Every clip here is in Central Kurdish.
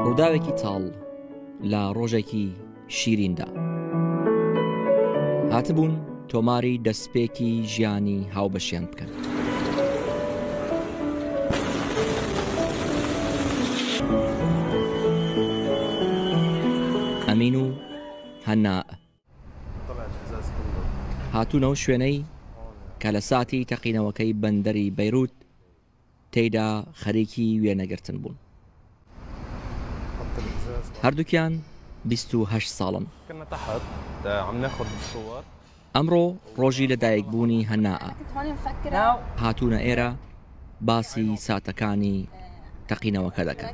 ڕووداوێکی تاڵ لە ڕۆژێکی شیریندا هاتبوون تۆماری دەستپێکی ژیانی هاوبەشیان بکەن ئەمین و هەنا هاتوون ئەو شوێنەی کە لە ساتی تەقینەوەکەی بەندەری بەیروت تێیدا خەریکی وێنەگرتن بوون. هەردووکیان 28 ساڵن. ئەمڕۆ ڕۆژی لەدایکبوونی هەنائە. هاتوونە ئێرە باسی ساتەکانی تەقینەوەکە دەکەن.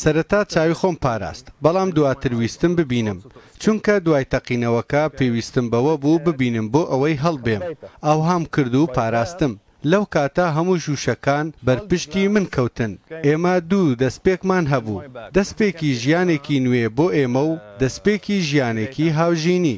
سەرەتا چاوی خۆم پاراست، بەڵام دواتر ویستم ببینم، چونکە دوای تەقینەوەکە پێویستم بەوە بوو ببینم بۆ ئەوەی هەڵبێم، ئاوهام کرد و پاراستم، لەو کاتە هەموو ژووشەکان بەر پشتی من کەوتن، ئێمە دوو دەستپێکمان هەبوو، دەستپێکی ژیانێکی نوێ بۆ ئێمە و دەستپێکی ژیانێکی هاوژینی.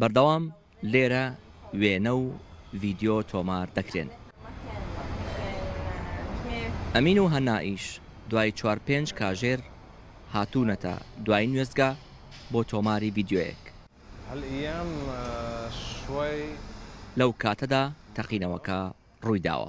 بەردەوام لێرە وێنە و ڤیدیۆ تۆمار دەکرێن. ئەمین و هەنائیش دوای چوار پێنج کاژێر هاتوونەتە دواین وێستگا بۆ تۆماری ڤیدیۆیەک. لەو کاتەدا تەقینەوەکە ڕوویداوە.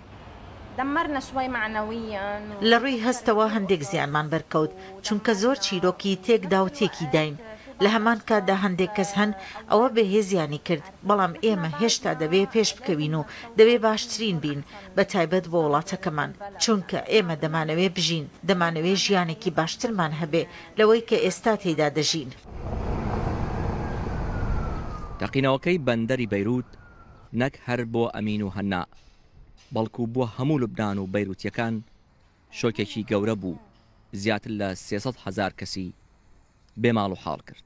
لە ڕووی هەستەوە هەندێک زیانمان بەرکەوت، چونکە زۆر چیرۆکی تێکدا و تێکیداین. لە هەمان کاتدا هەندێک کەس هەن ئەوە بێهێزیانی کرد، بەڵام ئێمە هێشتا دەبێ پێشبکەوین و دەبێ باشترین بین، بە تایبەت بۆ وڵاتەکەمان، چونکە ئێمە دەمانەوێ بژین، دەمانەوێ ژیانێکی باشترمان هەبێ لەوەی کە ئێستا تێیدا دەژین. تەقینەوەکەی بەندەری بەیروت نەک هەر بۆ ئەمین و هەناء، بەڵکو بۆ هەموو لوبنان و بەیروتییەکان شۆکێکی گەورە بوو، زیاتر لە سێ سەد هەزار کەسی بێ ماڵ و حاڵ کرد.